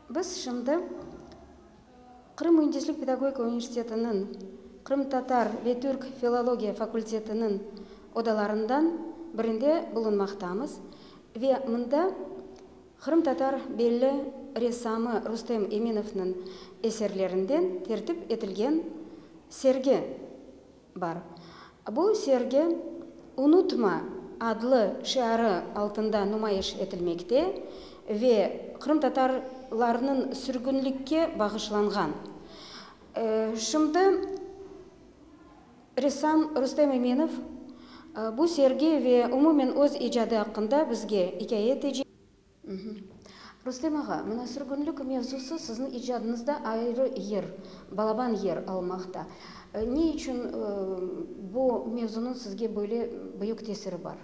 Biz şimdi Qırım müendislik pedagogika universitetiniñ qırımtatar ve türk filologiya fakultetiniñ odalarından birinde bulunmaqtamız ve mında qırımtatar belli ressamı Rustem Eminovnıñ eserlerinden tertip etilgen sergi Bar. Bu sergi Unutma! adlı şiarı altında numayış etilmekte ve qırımtatarlarnıñ sürgünlikke bağışlanğan. Şimdi ressam Rustem Eminov bu sergi ve umumen öz icadı aqqında bizge ikâye etecek. Rustem ağa, mına sürgünlik mevzusı sizni icadınızda ayrı yer, balaban yer almaqta. Ne içün bu mevzunıñ sizge böyle büyük tesiri bar?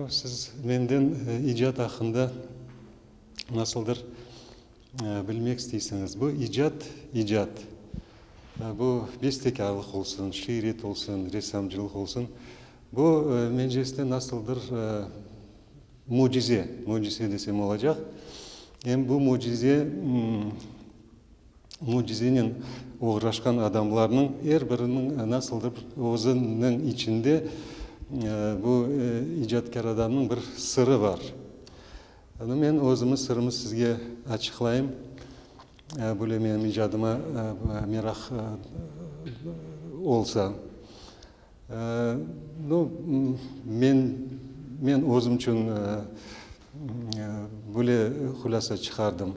Siz menden icat aqqında nasıldır, Bilmek isteysiñiz, bu icat, icat, bu bestekârlıq olsun, şiiret olsun, ressamcılıq olsun, bu Menceresde nasıl bir mücize, mücize desem olacaq. Em bu mücize, mücizenen oğraşqan adamlarnıñ er biriniñ nasıldır özüniñ içinde bu icatkâr adamnıñ bir sırı bar. Ana, men özümiz sırımı sizge açıqlayım. Böyle menim icadıma meraq olsa. No, men, men özüm içün böyle hulâsa çıqardım.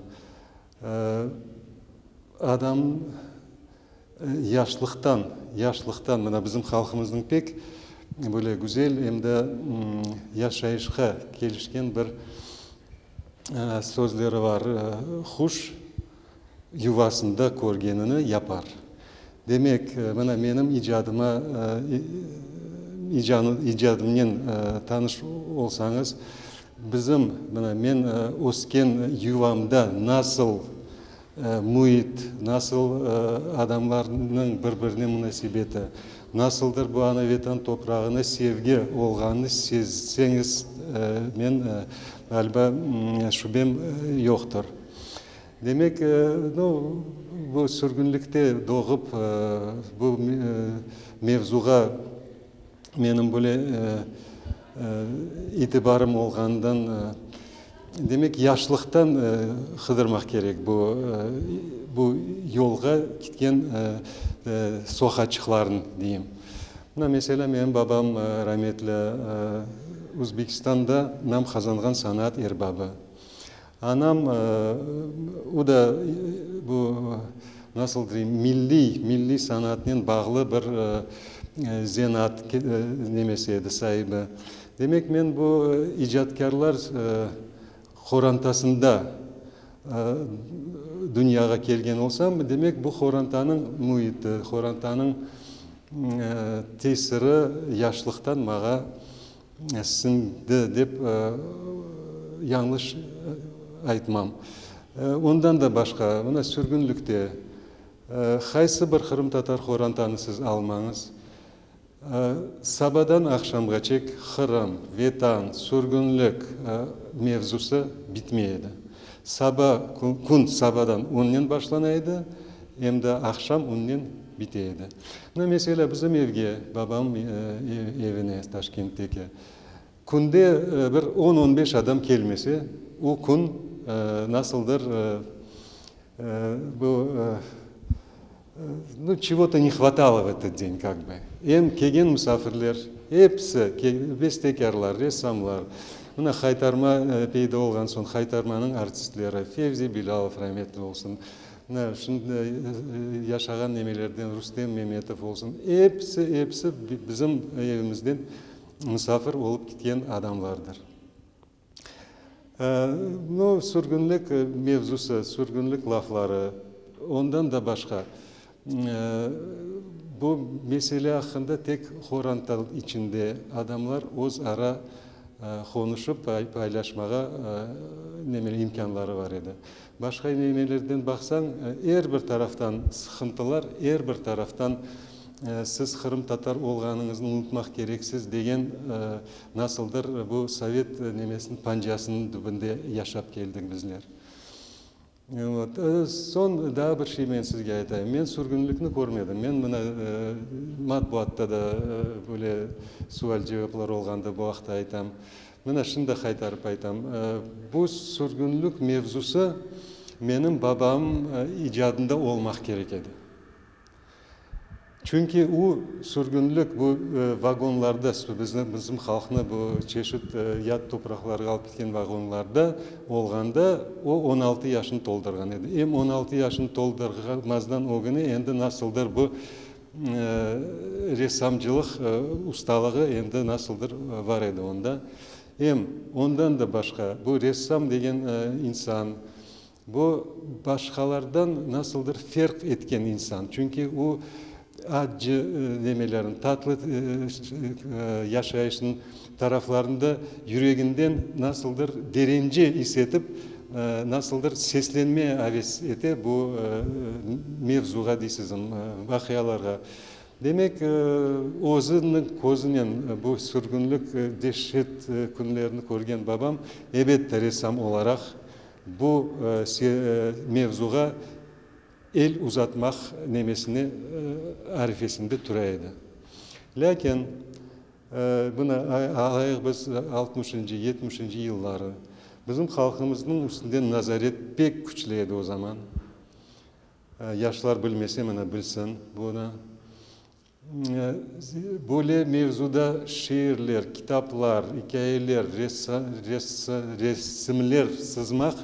Adam yaşlıqtan, yaşlıqtan, mına bizim halqımıznıñ pek böyle güzel em de yaşayışqa kelişken bir sözleri bar, Quş yuvasında körgenini yapar. Demek, mına menim icadıma, icadımnen tanış olsañız, bizim, mına men ösken yuvamda nasıl müit, nasıl adamlarnıñ bir-birine munasebeti, nasıldır bu ana Vetan toprağına sevgi olğanını sezseñiz, men, ğaliba, şübem yoqtır. Demek, no, bu sürgünlikte doğıp, bu mevzuğa menim böyle itibarım olğanından, demek, yaşlıqtan qıdırmaq kerek bu, bu yolğa kitken sohaçıqlarnı, deyim. Mına, meselâ, menim babam rametli Uzbekistanda nam qazanğan sanaat erbabı. Anam, o da bu, nasıl deyim, milliy, milliy sanatnen bağlı bir zenaat nemesi edi, saibi. Demek, men bu icatkârlar qorantasında dünyağa kelgen olsam, demek, bu qorantanıñ müiti, qorantanıñ tesiri yaşlıqtan mağa. Siñdi, dep yañlış aytmam. Ondan da başqa, mına sürgünlikte qaysı bir qırımtatar qorantanı siz almañız, sabadan aqşamğaçek Qırım, Vetan, sürgünlik mevzusı bitmey edi. Saba, kün sabadan onnen başlana edi, Em de aqşam onnen bite edi. Mına, meselâ, bizim evge, babam evine, Taşkentteki, künde bir on, on beş adam kelmese, o kün nasıldır, bu, nu, çego-to ne hvatalo v etet deñ, kak bi. Em kelgen musafirler, episi, bestekârlar, ressamlar, mına, Haytarma peyda olğan soñ, Haytarmanıñ artistleri, Fevzi Bilalov, rametli olsun, Mına, şimdi yaşağan nemelerden, Rustem Memetov olsun, episi, episi bizim evimizden musafir olıp ketken adamlardır. Bu sürgünlik mevzusı, sürgünlik lafları, ondan da başqa, bu mesele aqqında tek qorantal içinde adamlar öz ara qonuşıp, paylaşmağa imkânları bar edi. Başqa nelerden baqsañ, er bir taraftan sıqıntılar, er bir taraftan siz qırımtatar olğanıñıznı unutmaq kereksiz degen nasıldır bu sovet nemesiniñ pancasınıñ tübünde yaşap keldik bizler. Vot. Soñ daa bir şey men sizge aytayım. Men sürgünlikni körmedim. Men mına matbuatta da böyle sual-cevaplar olğanda bu aqta aytam. Mına şimdi qaytarıp aytam. Bu sürgünlik mevzusı menim babam icadında olmaq kerek edi. Çünki o, sürgünlik, bu vagonlarda, bizim, bizim halqnı bu çeşit yad topraqlarğa alıp ketken vagonlarda olğanda o on altı yaşını toldurğan edi. Em on altı yaşını toldurmazdan ögüne endi nasıldır bu Ressamcılıq ustalığı endi nasıldır bar edi onda. Em ondan da başqa, bu ressam degen insan, bu başqalardan nasıldır ferq etken insan. Çünki o, accı nemelerin, tatlı yaşayışın, Taraflarında yüreginden nasıldır derence is etip, nasıldır seslenme aves ete bu mevzuğa deysizm, vaqialarğa. Demek, özüniñ közünen bu sürgünlik, deşşet künlerini körgen babam, ebette, ressam olaraq bu mevzuğa el uzatmaq nemesine arifesinde türe edi. Lâkin. Buna alayıq biz altmışıncı, yetmişiñci yılları bizim halqımıznıñ üstünden nazaret pek küçlü edi o zaman. Yaşlar bilmese mına bilsin bunı. Böyle mevzuda şiirler, kitaplar, ikâyeler, resimler sızmaq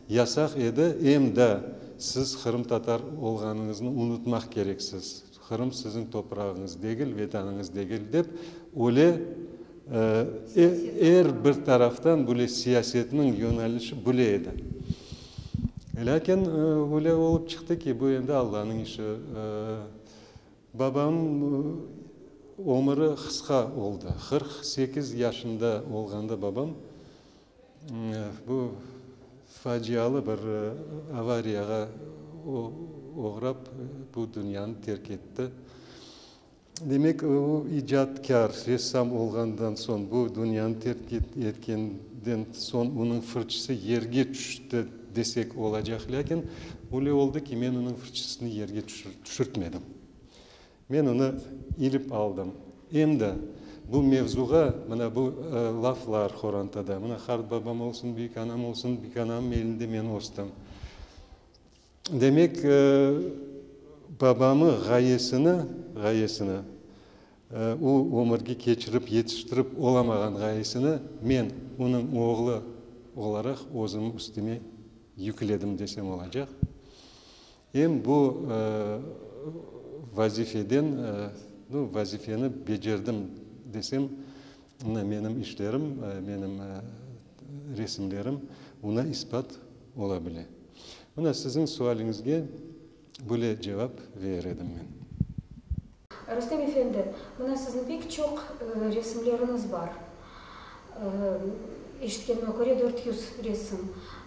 yasaq edi. Em da siz qırımtatar olğanıñıznı unutmaq kereksiz. Qırım siziñ toprağıñız degil, vetanıñız degil, dep öyle er bir taraftan böyle siyasetniñ yönelişi böyle edi. Lâkin öyle olıp çıqtı ki, bu endi Allanıñ işi. Babam ömüri qısqa oldı. Qırq sekiz yaşında olğanda babam. Bu facialı bir avariyağa oğrap, bu dünyanı terk etti. Demek, o icatkâr, ressam olğandan soñ, bu dünyanı terk etkenden soñ onıñ fırçısı yerge tüşti desek olacaq. Lâkin öyle oldı ki, men onıñ fırçısını yerge tüşürtmedim. Men onı ilip aldım. Em de bu mevzuğa, mına bu laflar qorantada, mına qart babam olsun, büyük anam olsun, büyük anamnıñ elinde men östüm. Demek, babamı ğayesini, ğayesini, o ömürge keçirip, yetiştirip olamağan ğayesini men, onıñ oğlu olaraq özümniñ üstüme yükledim desem olacaq. Em bu vazifeden, nu, vazifeni becerdim desem, mına menim işlerim, menim resimlerim oña ispat ola bile. Mına siziñ sualiñizge böyle cevap verer edim men. Rustem efendi, mına siziñ pek çoq resimleriñiz bar. Eşitkenime köre, dört yüz resim.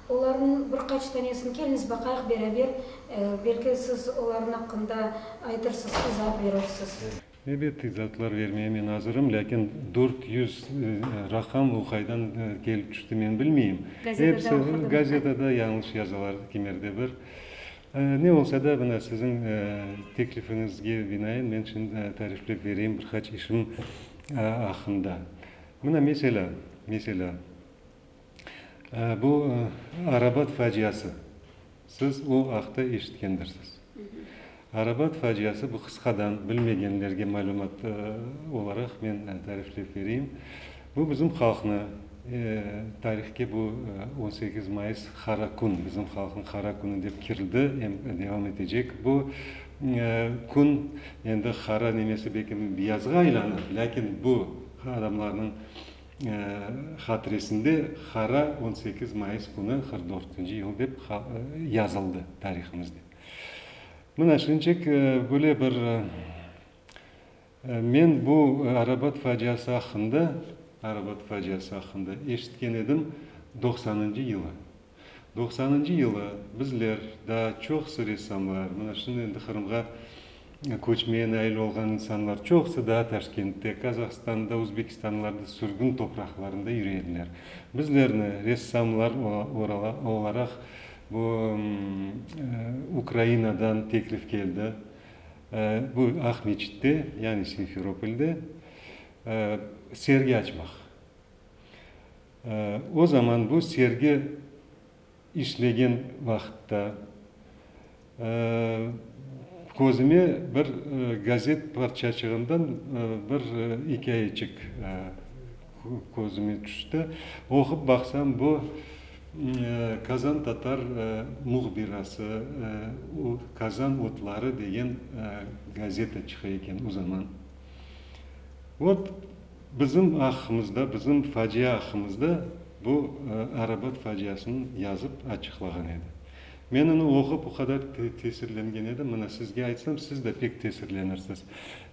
Olarnıñ bir qaç tanesini keliñiz baqayıq beraber, belki siz olarnıñ aqqında aytırsız, izaat berirsiz. Elbette, izaatlar bermege men azırım, lâkin dört yüz raqam o qaydan kelip tüşti, men bilmeyim. Gazetada oqudınız. Gazetada yañlış yazalar, kimerde bir. Ne olsa da, mına, siziñ teklifiñizge binaen men şimdi tariflep bereyim bir qaç işim aqqında. Mına, meselâ, meselâ, bu Arabat faciası. Siz o aqta eşitkendirsiz. Arabat faciası, bu qısqadan, bilmegenlerge malümat olaraq men tariflep bereyim. Bu bizim halqnı tarihke bu on sekiz mayıs qara kün, bizim halqnıñ qara künü dep kirdi, em devam etecek bu kün. Endi qara nemesi belki biyazğa aylanır, lâkin bu adamlarnıñ hatiresinde qara on sekiz mayıs künü qırq dörtünci yıl dep yazıldı tarihımızda. Mına şunıñçek böyle bir Men bu arabat faciası aqqında, arabat faciası aqqında eşitken edim doqsanıncı yılı. Doqsanıncı yılı bizler, daa çoqusı ressamlar, mına şimdi endi Qırımğa köçmeye nail olğan insanlar çoqusı daa Taşkentte, Qazahstanda, Uzbekistanlarda, sürgün topraqlarında yüre ediler. Bizlerni ressamlar olaraq bu Ukrainadan teklif keldi. Bu Aqmeçitte, yani Simferopolde sergi açmaq. O zaman bu sergi işlegen vaqıtta közüme bir gazet parçaçığından bir ikâyeçik. Közüme tüşti. Oqup baqsam, bu Kazan Tatar mühbirası, Kazan otları degen gazeta çıqa eken o zaman. Ot, bizim aqqımızda, bizim facia aqqımızda bu Arabat faciasını yazıp açıqlağan edi. Men onı oqup o qadar tesirlengen edim, mına sizge aytsam, siz de pek tesirlenirsiz.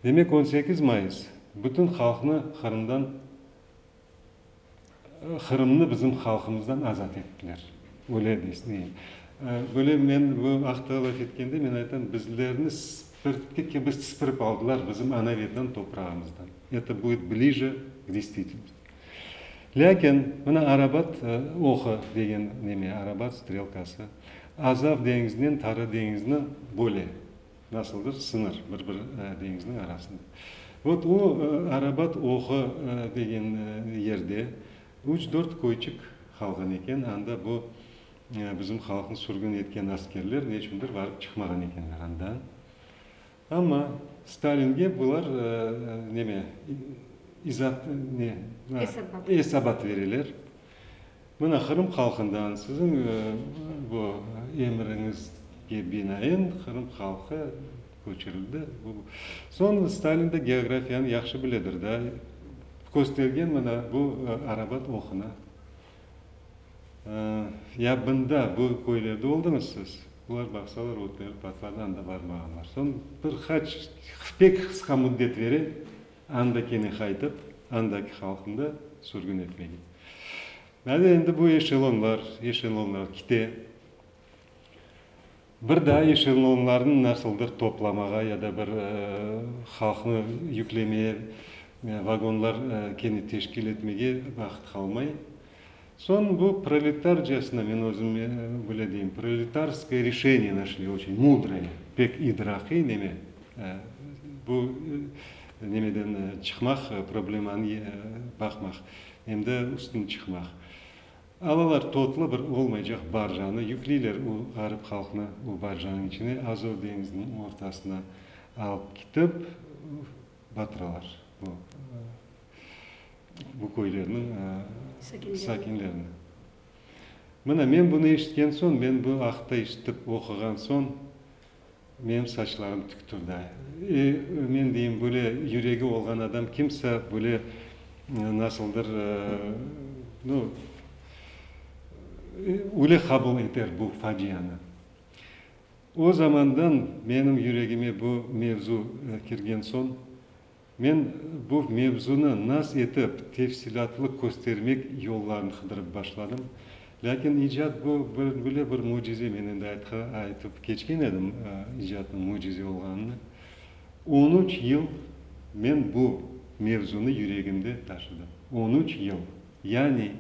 Demek, on sekiz mayıs, Bütün halqnı Qırımdan, Qırımnı bizim halqımızdan azat ettiler. Öyle deysneyim. Böyle men bu aqta laf etkende men aytam, bizlerni spirtki kibi sipirip aldılar bizim ana vetan toprağımızdan. Eto buit blije k destvitilnosti. Lâkin mına Arabat oqı degen neme, Arabat strelkası Azav deñizinen Qara deñizni böyle Nasıl bir sıñır bir-bir deñizniñ arasında. Vot o Arabat oğı degen yerde üç-dört köyçik qalğan eken, anda bu bizim halqnı sürgün etken askerler ne içündir barıp çıqmağan ekenler andan. Amma Stalinge bular neme, izat, ne? Esabat. Esabat bereler. Mına, Qırım halqından siziñ bu emriñizge binaen Qırım halqı köçirildi. Soñ Stalin de geografiyanı yahşı biledir da, köstergen mına bu Arabat oquna. Ya bında bu köylerde oldıñız siz? Bular baqsalar ötleri patladı, anda barmağanlar. Soñ bir qaç, pek qısqa müddet beren Andakini qaytıp, andaki halqnı da sürgün etmege. Mane endi bu eşelonlar, eşelonlar kite. Bir daa eşelonlarnı nasıldır toplamağa ya da bir halqnı yüklemeye, vagonlar kene teşkil etmege vaqıt qalmay. Soñ bu proletarcasına, men özüm böyle deyim, proletarskoye reşeniye našli, oçün mudroye, pek idrakiy neme, bu nemeden çıqmaq, problemanı baqmaq, em de üstüni çıqmaq. Alalar totlı bir olmaycaq barjanı, yükleyler o ğarip halqnı o barjanıñ içine, Azov deñiziniñ ortasına alıp ketip batıralar. bu köylerniñ sakinlerini. Mına, men bunı eşitken soñ, men bu aqta eşitip, oquğan soñ, menim saçlarım tik turdı. E, men deyim, böyle yüregi olğan adam kimse böyle nasıldır, no, öyle qabul eter bu facianı. O zamandan menim yüregime bu mevzu kirgen soñ, Men bu mevzunı nas etip tefsilâtlı köstermek yollarını qıdırıp başladım. Lâkin icat bu, böyle bir mücize, men endi aytqa, aytıp keçken edim icatnıñ mücize olğanını. On üç yıl men bu mevzunı yüregimde taşıdım. On üç yıl. Yani,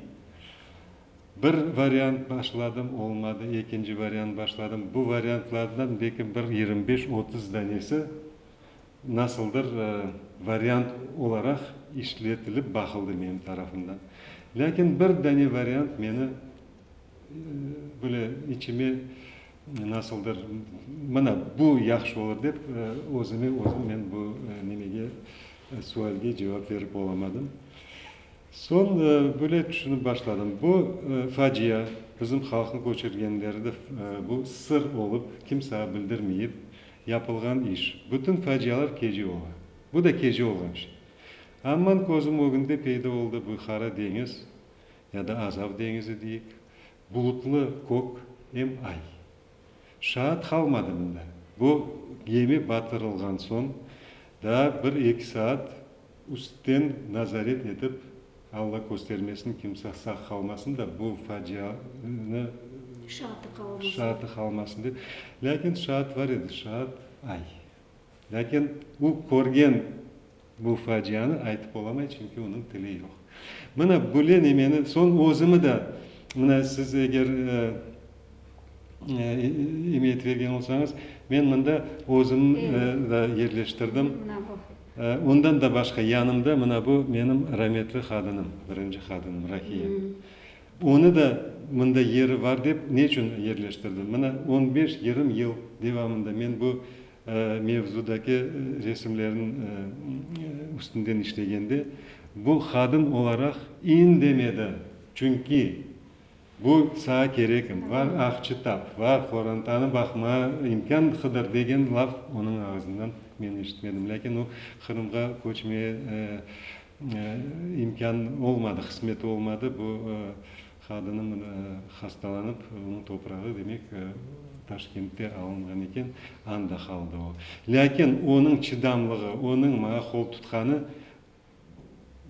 bir variant başladım, olmadı, ekinci variant başladım. Bu variantlardan belki bir yirmi beş, otuz danesi Nasıldır variant olaraq işletilip baqıldı menim tarafımdan. Lâkin bir dane variant meni böyle içime nasıldır, mana bu yahşı olur dep, özüme özüm men bu nimege, sualge cevap berip olamadım. Soñ böyle tüşünip başladım, bu facia, bizim halqnı köçürgenleri de bu sır olıp, kimsâğa bildirmeyip, Yapılğan iş. Bütün facialar kece ola. Bu da kece olğan şey. Amman közüm ögünde peyda oldı bu Qara deñiz, ya da Azav deñizi deyik, bulutlı kök em ay. Şaat qalmadı mında. Bu gemi batırılğan soñ daa bir-eki saat Üstten nazaret etip, Alla köstermesin, kimse sağ qalmasın da bu facianı şaatı qalmasın dep. Lâkin şaat bar edi, şaat ay. Lâkin o körgen bu facianı aytıp olamay, çünki onıñ tili yoq. Mına böyle nemeni, soñ özümi de, mına siz eger imiyet bergen olsañız, men mında özümni de yerleştirdim. Ondan da başqa, yanımda mına bu menim rametli qadınım, birinci qadınım, Rahiye. Onı da mında yeri bar dep, neçün yerleştirdim? Mına on beş, yırım yıl devamında men bu mevzudaki resimlerniñ üstünden işlegende, bu qadın olaraq indemedi. Çünki. Bu sağa kerekmi? Var ahçı tap, var qorantanı baqma, imkân qıdır, degen laf onıñ ağızından men eşitmedim. Lâkin o Qırımğa köçmeye imkân olmadı, qısmeti olmadı. Bu qadınım hastalanıp, onıñ toprağı, demek, Taşkentte alınğan eken, anda qaldı o. Lâkin onıñ çıdamlığı, onıñ maña qoltutqanı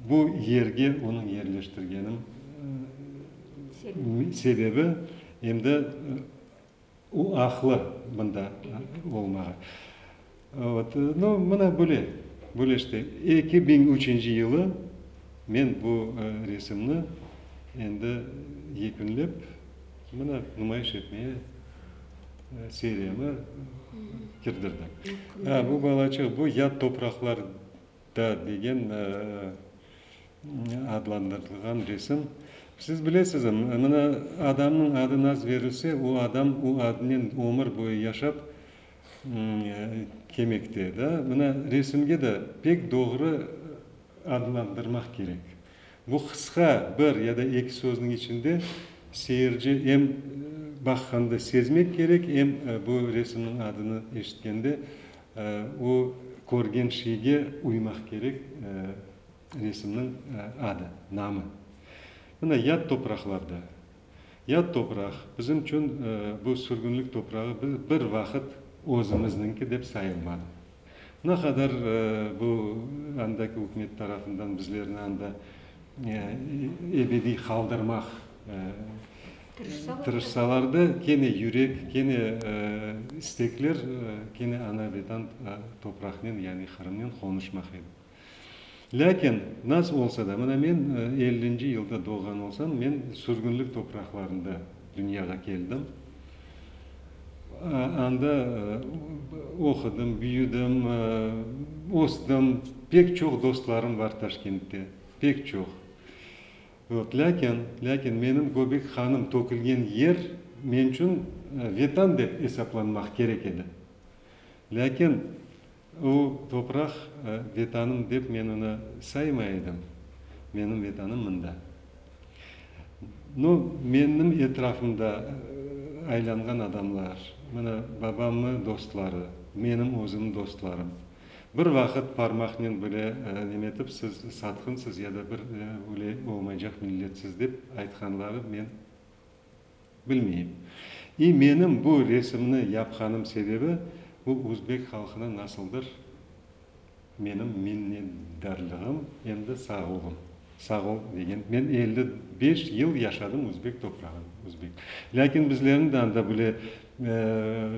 Bu yerge onıñ yerleştirgenim sebebi, em de o aqlı mında olmağa. No, mına böyle, böyle işte. Eki biñ üçünci yılı men bu resimni endi yekünlep, mına numayış etmeye seriyamı kirdirdim. Ha, bu balaçıq, bu yad topraqlar Da degen adlandırılğan resim. Siz bilesizm, mına, adamnıñ adı naz berilse, o adam o adnen ömür boyu yaşap kemekte. Da, mına, resimge de pek doğru adlandırmaq kerek. Bu qısqa bir ya da eki sözniñ içinde seyirci em baqqanda sezmek kerek, em bu resimniñ adını eşitkende O körgen şeyge uymaq kerek, resimniñ adı, namı. Mına yad topraqlarda, yad topraq, bizim içün bu sürgünlik toprağı bir vaqıt özümizniñki dep sayılmadı. Ne qadar bu andaki ükümet tarafından bizlerni anda ebediy qaldırmaq Tırışsalar da, kene yürek, kene istekler, kene ana vetan topraqnen, yani Qırımnen qonuşmaq edi. Lâkin, nasıl olsa da, mına men ellinci yılda doğğan olsam, men sürgünlik topraqlarında dünyağa keldim. Anda oqudım, büyüdim, östüm, pek çoq dostlarım bar Taşkentte, pek çoq. Yoq, lâkin, lâkin menim göbek qanım tökülgen yer men içün Vetan dep esaplanmaq kerek edi. Lâkin o topraq Vetanım dep men onı saymay edim. Menim Vetanım mında. No, menim etrafımda aylanğan adamlar, mına, babamnı dostları, menim özümniñ dostlarım, Bir vaqıt parmaqnen böyle nemetip siz satqınsız ya da bir öyle olmaycaq milletsiz dep aytqanları men bilmeyim. İ menim bu resimni yapqanım sebebi bu uzbek halqına nasıldır menim minnetdarlığım em de sağ olun. Sağ ol, degen. Men elli beş yıl yaşadım özbek toprağında, özbek. Lâkin bizlerni de anda böyle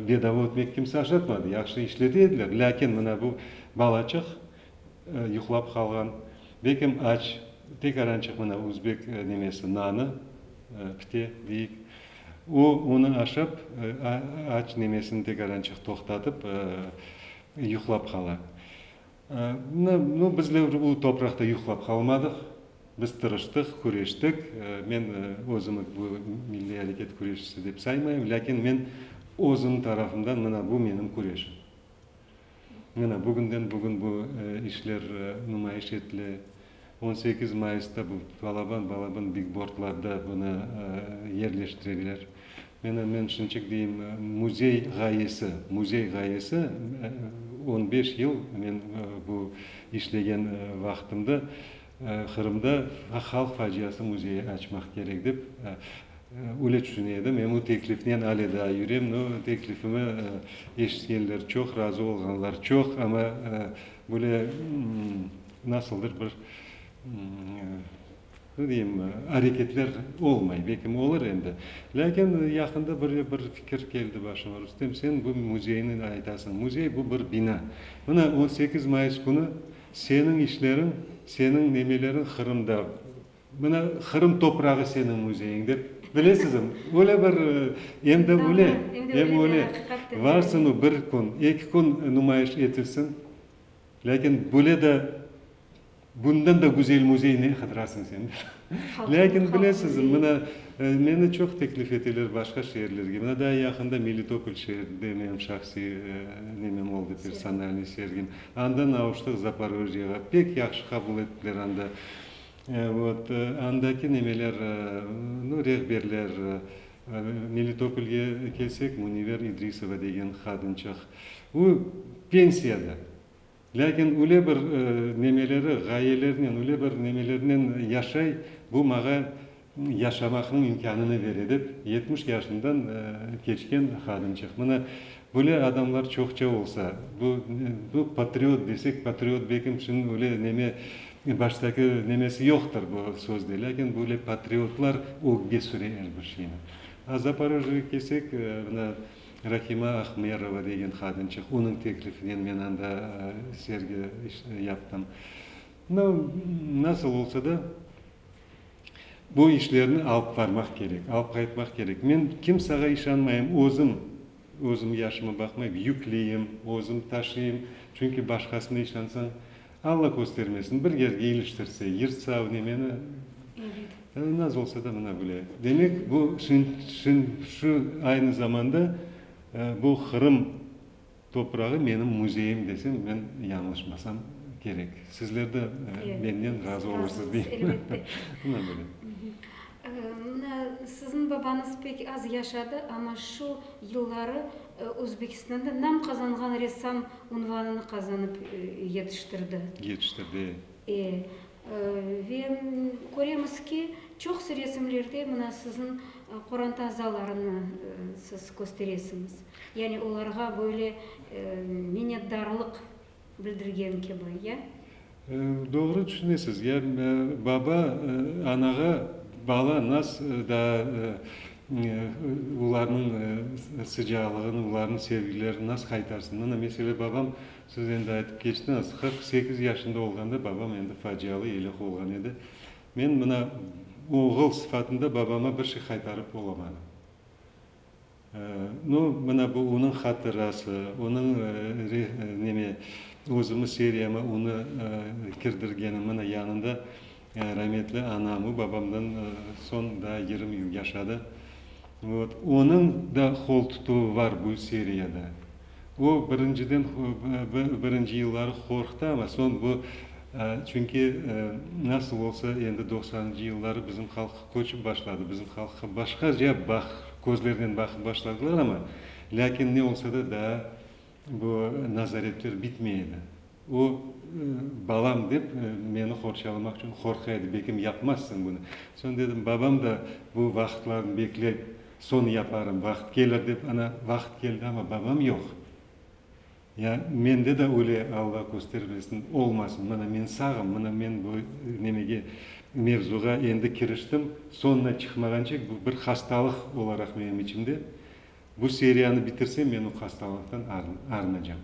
bedava ötmek kimse aşatmadı. Yahşı işleti ediler. Lâkin mına bu balaçıq yuqlap qalğan, bekem aç, tek arancıq mına özbek nemesi, nanı, pite deyik. O, onı aşap, aç nemesini tek arancıq toqtatıp, yuqlap qala. Nu, bizler bu topraqta yuqlap qalmadıq. Biz tırıştıq, küreştik. Men özümi bu milliy areket küreşçisi dep saymayım, lâkin men özüm tarafımdan mına bu menim küreşim. Mına bugünden-bugün bu işler numayış etile. On sekiz mayısta bu balaban, balaban bigbordlarda bunı yerleştirebiler. Menı, men şunçık deyim, müzey ğayesi, müzey ğayesi, on beş yıl men bu işlegen vaqtımda Qırımda halq faciası müzeyi açmaq kerek dep, öyle tüşüne edim. Em o teklifnen ale daa yürem, no, teklifimi eşitkenler çoq, razı olğanlar çoq, amma böyle, Nasıldır bir, ne deyim, areketler olmay, belki olur endi. Lâkin yaqında bir, bir fikir keldi başıma, Rustem, sen bu müzeyni aytasıñ, müzey, bu bir bina. Mına, on sekiz mayıs künü seniñ işleriñ, seniñ nemeleriñ Qırımda, mına, Qırım toprağı seniñ müzeyiñ dep, bilesizim, öyle bir, em de öyle, em öyle, varsıñ, bir kün, eki kün numayış etilsin, Lâkin böyle de, bundan da güzel müzey ne qıdırasıñ sen? Lâkin bilesizmi, mına, meni çoq teklif eteler başqa şeerlerge. Mına, daa yaqında Melitopol şeerinde menim şahsiy nemem oldı, personalnıy sergim. Andan avuştıq Zaporojyega. Pek yahşı qabul ettiler anda. Vot, andaki nemeler, nu, rehberler, Melitopolge kelsek, Muniver İdrisova degen qadınçıq, o, pensiyada, lâkin öyle bir nemeleri, ğayelerinen, öyle bir nemelerinen yaşay, bu mağa yaşamaqnıñ imkânını bere, dep, yetmiş yaşından keçken qadınçıq. Mına, Böyle adamlar çoqça olsa, bu, bu patriot desek, patriot belkim şimdi öyle neme, baştaki nemesi yoqtır bu sözde, lâkin böyle patriotlar ögge süre er bir şeyni. A Zaporojjeye kelsek, mına Rahima Ahmerova degen qadınçıq, onıñ teklifinen men anda sergi yaptım. Mına, nasıl olsa da, Bu işlerni alıp varmaq kerek, alıp qaytmaq kerek. Men kimsağa işanmayım, özüm, özüm yaşıma baqmayıp yükleyim, özüm taşıyım. Çünki başqasına işansañ, Alla köstermesin, bir yerge iliştirse, yırtsa, nemeni, naz olsa da mına bile. Demek, bu şın, şın, şu aynı zamanda bu Qırım Toprağı menim müzeyim desem, men yañlışmasam kerek. Sizler de menden razı olursız deymen. Mına böyle. Mına siziñ babañız pek az yaşadı, amma şu yılları Özbekistanda nam qazanğan ressam unvanını qazanıp yetiştirdi. Yetiştirdi, e. E, Ve köremiz ki, çoqusı resimlerde mına siziñ qoranta azalarıñı siz kösteresiñiz. Yani olarğa böyle minnetdarlıq bildirgen kibi, ya? Doğru tüşünesiz. Yani baba anağa, bala nas daa olarnıñ sıcaqlığını, olarnıñ sevgilerini nas qaytarsın? Mına, mesele, babam Siz endi aytıp keçtiñiz, qırq sekiz yaşında olğanda babam endi facialı elâk olğan edi. Men mına oğul sıfatında babama bir şey qaytarıp olamadım. Nu, mına bu onıñ hatırası, onıñ neme, özümi seriyama onı kirdirgenim, mına yanında Rametli anam ve babamdan soñ daa yirmi yıl yaşadı. Vot. Onıñ da qol tutuvı var bu seriyada. O, birinciden, birinci yılları qorqtı, amma soñ bu, çünki nasıl olsa endi doqsanıncı yılları bizim halq köçip başladı, bizim halqqa başqaca baq, közlernen baqıp başladılar, amma lâkin ne olsa da daa, Bu nazaretler bitmey edi. O, balam dep, meni qorçalamaq içün qorqa edi, belkim yapmazsıñ bunı. Soñ dedim, babam da bu vaqıtlarnı bekley, soñ yaparım, vaqıt kelir dep. Ana, vaqıt keldi, amma babam yoq. Ya, mende de öyle, Alla köstermesin, olmasın. Mına men sağım, mına men bu nemege, mevzuğa endi kiriştim, soñuna çıqmağançık bu bir hastalıq olaraq menim içimde. Bu seriyanı bitirsem, men o hastalıqtan arınacam,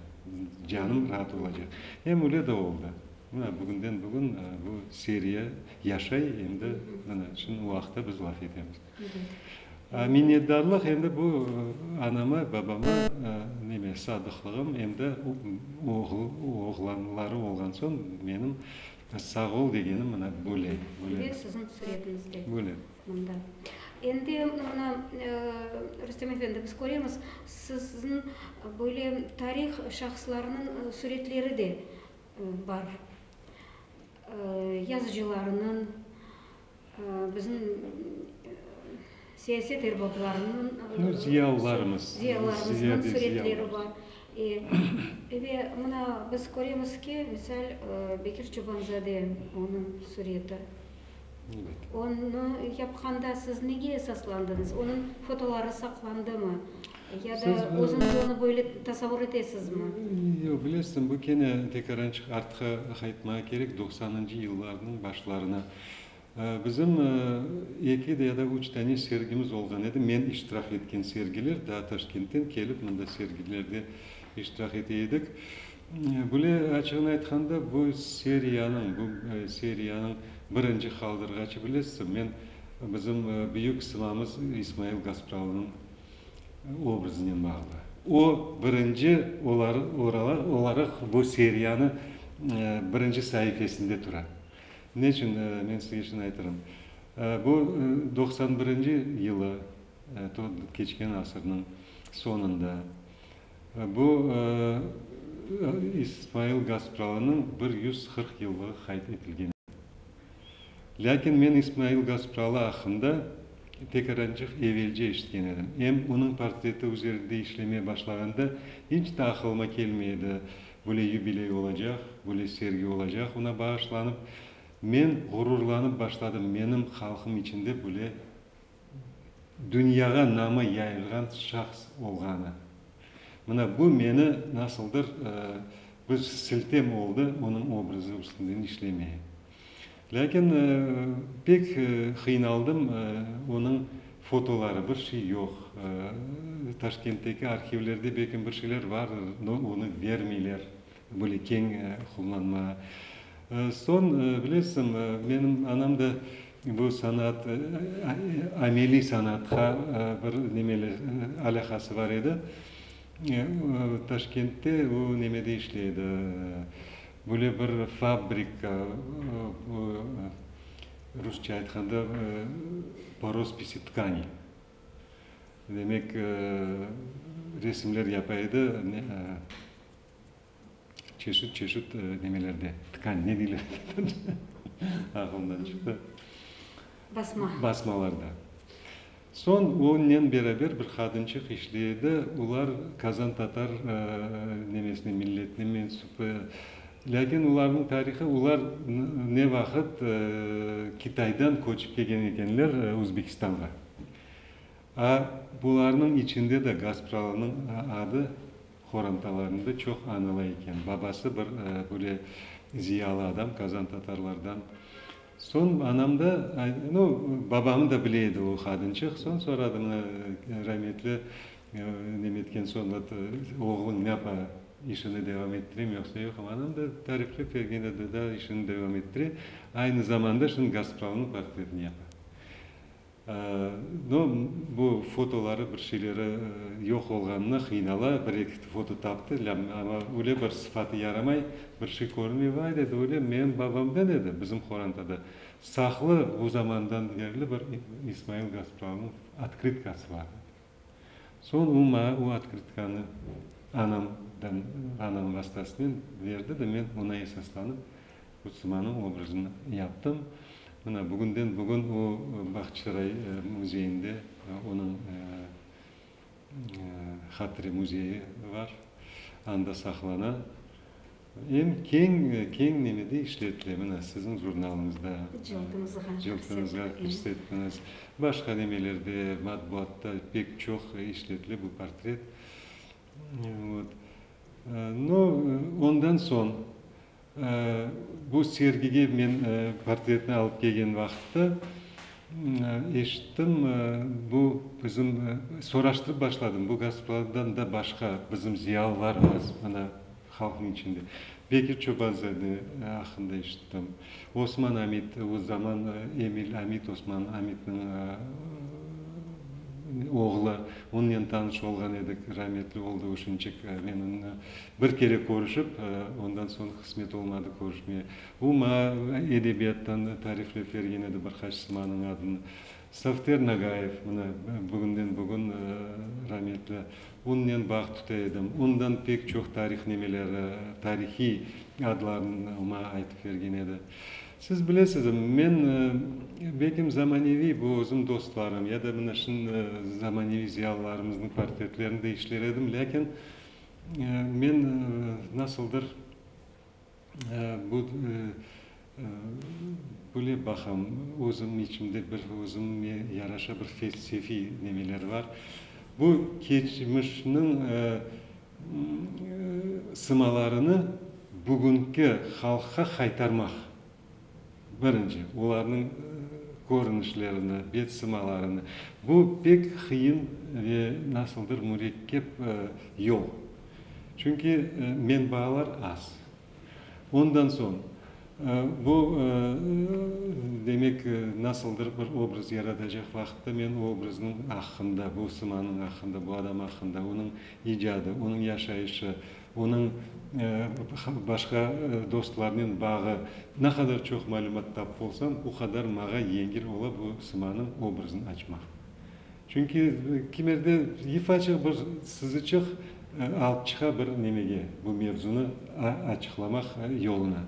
canım raat olacaq. Em öyle de oldı. Mına, bugünden bugün bu seriya yaşay, em de mına şimdi o aqta biz laf etemiz. Minnetdarlıq endi bu anama, babama neme, sadıqlığım, em de oğlanları olğan soñ menim sağ ol degenim mına böyle. Ve siziñ suretinizde. Böyle. Mında. Endi mına, Rustem efendi, biz köremiz, sizniñ böyle tarih şahıslarınıñ suretleri de bar. Yazıcılarınıñ, bizim siyaset erbaplarınıñ, zıyalılarımıznıñ suretleri bar. Ve mına biz köremiz ki, misal, Bekir Çobanzade, onıñ sureti. Onı yapqanda siz nege esaslandınız? Onıñ fotoları saqlandımı? Ya da özüñiz onı böyle tasavur etesizmi? Yoq, bilesiz, bu kene tekraren artqı qaytmağa kerek, doqsanıncı yıllarnıñ başlarına. Bizim eki ya da üç tane sergimiz olğan edi, men iştirak etken sergiler, daa Taşkentten kelip mında sergilerde iştirak ete edik. Bile, açığını aytqanda, bu seriyanıñ, bu seriyanıñ birinci qaldırğaçı, bilesizmi, men bizim büyük simamız İsmail Gasprovnıñ obrazınen bağlı. O, birinci olaraq bu seriyanı birinci saifesinde tura. Ne içün, men sizge şimdi aytarım. Bu, doqsan birinci yılı, keçken asırnıñ soñunda. Bu, İsmail Gaspıralı'nıñ bir yüz qırq yıllığı qayd etilgen edi. Lâkin men İsmail Gaspıralı aqqında pek arancıq evelce eşitken edim, em onıñ portreti üzerinde işlemeye başlağanda inç de aqılıma kelmey edi, böyle yubiley olacaq, böyle sergi olacaq oña bağışlanıp. Men ğururlanıp başladım, menim halqım içinde böyle. dünyağa namı yayılğan şahs olğanı. Mına bu meni nasıldır bir siltem oldı onıñ obrazı üstünden işlemeye. Lâkin pek qıynaldım, onıñ fotoları, bir şey yoq. Taşkentteki arhivlerde belki bir şeyler vardır, no onı bermeyler. Böyle keñ qullanma. Soñ, bilesiñ, menim anam da bu sanaat, ameliy sanaatqa bir nemeler, alâqası bar edi. Taşkentte o nemede işley edi, böyle bir fabrika, bu, rusça aytqanda, po rospisi tkani. Demek, resimler yapa edi. Çeşit-çeşit nemelerde, tkань, ne deyler, ağlımdan çıqtı, Basma. basmalarda. Soñ onen beraber bir qadınçıq işley edi, olar Kazan tatar nemesine, milletine mensup. Lâkin olarnıñ tarihı, olar ne vaqıt Kitaydan köçip kelgen ekenler Özbekistanğa. A bularnıñ içinde de Gaspralı'nıñ adı Qorantalarında çoq anıla eken. Babası bir böyle ziyalı adam, Kazan tatarlardan. Soñ anam da, no, babamı da bile edi o qadınçıq. Soñ soradı, mına, rametli nem etken soñ, ot, oğluñ napa, işini devam ettirem yoqsa yoq? Anam da tariflep bergen edi, da, işini devam ettire, aynı zamanda şunı Gazpromnıñ portretini yapa. No, bu fotoları bir şeyleri yoq olğanına qıynala, bir eki foto taptı, lâm amma öyle bir sıfatı yaramay, bir şey körünmey. Vay, dedi, öyle menim babamdan edi, bizim qorantada saqlı, o zamandan berli bir İsmail Gaspralnıñ otkritkası bar. Soñ o maña o otkritkanı anamdan, anam vastasınen berdi de men oña esaslanıp Qutsımanıñ obrazını yaptım. Mına, bugünden bugün o Bahçısaray müzeyinde onıñ hatire müzeyi bar, anda saqlana. Em keñ, keñ nemede işlettimiz siziñ jurnalıñızda? Cıltımızğa. Cıltımızğa kirsettiniz. Başqa nemelerde, matbuatta pek çoq işletle bu portret. Vot. No, ondan soñ, bu sergige men portretni alıp kelgen vaqıtta eşittim, bu bizim, soraştırıp başladım, bu Gasprovdan da başqa bizim ziyalılarımız, ana, Halqnıñ içinde Bekir Çobanzade aqqında eşittim. Osman Amit, o zaman Emil Amit, Osman Amitniñ oğlu. Onnen tanış olğan edik, rametli oldı uşinçik. Menen bir kere körüşip, ondan soñ qısmet olmadı körüşmeye. O maña edebiyattan tariflep bergen edi bir qaç simanıñ adını. Safter Nagayev, mına, bugünden-bugün rametli, unnen bağ tuta edim, undan pek çoq tarihnemeleri, tarihiy adlarnı ma aytıp bergen edi. Siz bilesiz, men bekim zamaneviy bu özüm dostlarım ya da mına şın zamaneviy ziyalılarımıznıñ portretlerinde işler edim, lâkin men nasıldır, Bu bile baqam, özüm içimde bir özümme yaraşa bir felsefiy nemeler bar. Bu keçmişniñ sımalarını bugünki halqqa qaytarmaq. Birinci, olarnıñ körünişlerini, bet sımalarını. Bu pek qıyın ve nasıldır mürekkep yol. Çünki menbalar az. Ondan soñ, bu, demek, nasıldır bir obraz yaratacaq vaqıtta men o obraznıñ aqqında, bu sımanıñ aqqında, bu adam aqqında, onıñ icadı, onıñ yaşayışı, Onıñ başqa dostlarınen bağı. Ne qadar çoq malümat tapıp olsam, o qadar mağa yengil ola bu sımanıñ obrazını açmaq. Çünki kimerde ifaçıq bir sızıçıq alıp çıqa bir nemege, bu mevzunı açıqlamaq yoluna.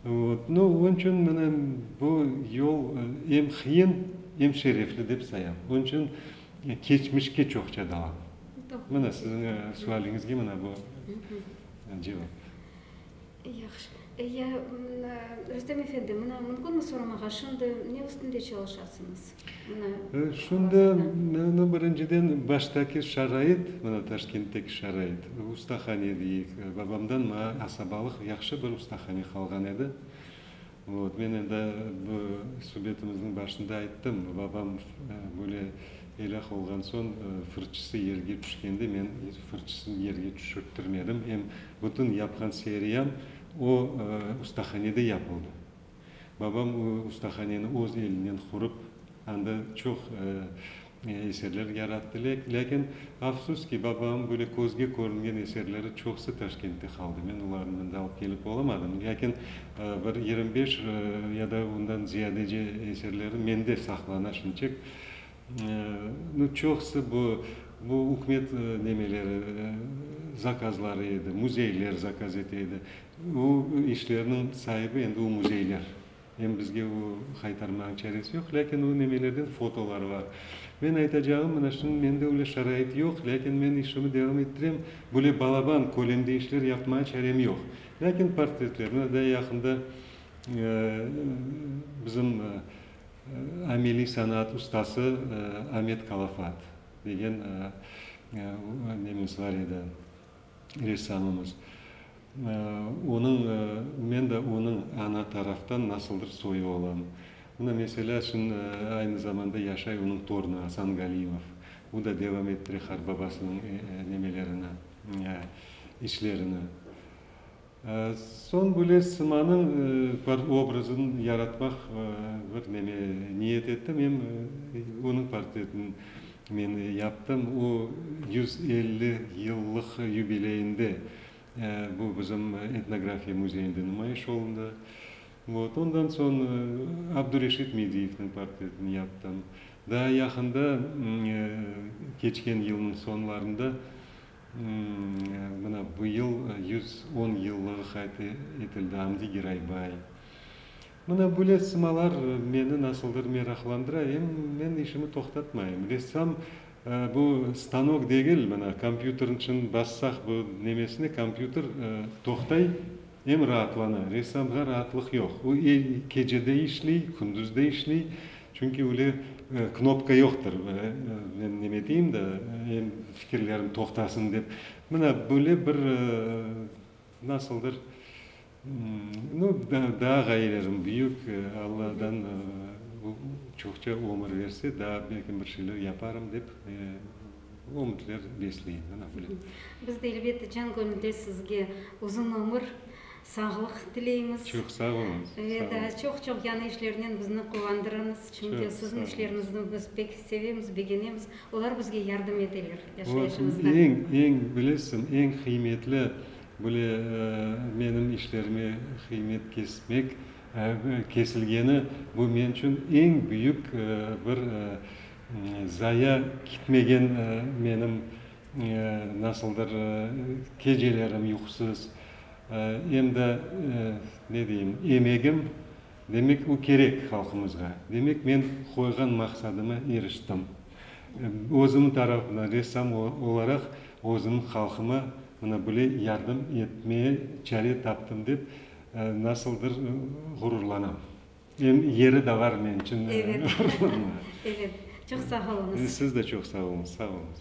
Vot. No, onıñ içün mına bu yol em qıyın, em şerefli dep sayam. Onıñ içün keçmişke çoqça dalam. Mine, siziñ sualiñizge mine bu cevap. Yahşı. Ya, Rustem efendi, mına mümkünmi soramağa, şimdi ne üstünde çalışasıñız? Şimdi, mine, birinciden, baştaki şarait, mına, Taşkentteki şarait, ustahane, deyik, babamdan maña asabalıq yahşı bir ustahane qalğan edi. Men endi bu subetimizni başında ayttım, babam böyle elâh olğan soñ fırçısı yerge tüşkende men fırçısını yerge tüşürttirmedim, em bütün yapqan seriyam o ustahanede yapıldı. Babam o ustahaneni öz elinen qurıp, anda çoq Eserler yarattı, lâkin, afsus ki, babam böyle közge körüngen eserleri çoqusı Taşkentte qaldı. Men olarnı mında alıp kelip olamadım, lâkin, bir yirmi beş ya da ondan ziyadece eserleri mende saqlana şimşek. Nu, çoqusı bu, bu ükümet nemeleri, zakazları edi, müzeyler zakaz ete edi. O işlerniñ saibi endi o müzeyler. Em bizge o qaytarmağın çaresi yoq, lâkin o nemelerden fotolar bar. Men aytacağım, mına şimdi mende öyle şarait yoq, lâkin men işimi devam ettirem, böyle balaban kölemde işler yapmağa çarem yoq. Lâkin portretler, mına daa yaqında bizim ameliy sanaat ustası Amet Kalafat degen nememiz bar edi, ressamımız. Onıñ, men de onıñ ana taraftan nasıldır soyu olam. Mına, meselâ şun, aynı zamanda yaşay onıñ torunı Asan Galimov. O da devam ettire qartbabasınıñ nemelerini, işlerini. Soñ böyle sımanıñ bir obrazın yaratmaq bir neme niyet ettim, em onıñ portretin men yaptım. O yüz elli yıllıq yubileyinde bu bizim Etnografiya müzeyinde numayış olundı. Vot, ondan soñ Abdureşit Mediyevniñ portretin yaptım. Daa yaqında, keçken yılnıñ soñlarında Mına, bu yıl yüz on yıllığı qayd etildi Amdi Giraybay. Mına, böyle sımalar meni nasıldır meraqlandıra, em men işimi toqtatmayım. Ressam, bu stanok degil, mına, kompyuterniñ içün bassaq bu nemesine, kompyuter toqtay, em raatlana. Ressamğa raatlıq yoq. O, kecede işley, kündüz de işley. Çünki öyle knopka yoqtır, men neme deyim da, em fikirlerim toqtasın dep. Mına böyle bir, nasıldır, nu, daa ğayelerim büyük, Alladan çoqça ömür berse, daa belki bir şeyler yaparım dep ümitler besleyim, mına böyle. Biz de, elbette, can köñülden sizge uzun ömür, Sağlıq tileymiz. Çoq sağ oluñ. Ve daa çoq-çoq yañı işlernen bizni quvandırıñız. Çünki siziñ işlernizni biz pek sevemiz, begenemiz. Olar bizge yardım eteler yaşayışımızda. Eñ, eñ, bilesiñ, eñ qıymetli, böyle, menim işlerime qıymet kesmek, kesilgeni, bu men içün eñ büyük bir zaya kitmegen menim nasıldır kecelerim yuqusız, Em de, ne deyim, emegim, demek, o kerek halqımızğa. Demek, men qoyğan maqsadıma iriştim. Özüm tarafından, ressam olaraq, özüm halqıma mına böyle yardım etmeye çare taptım dep, nasıldır ğururlanam. Em yeri de bar men içün ğururlanmağa. Evet, evet. Çoq sağ oluñız. Siz de çoq sağ oluñız. Sağ oluñız.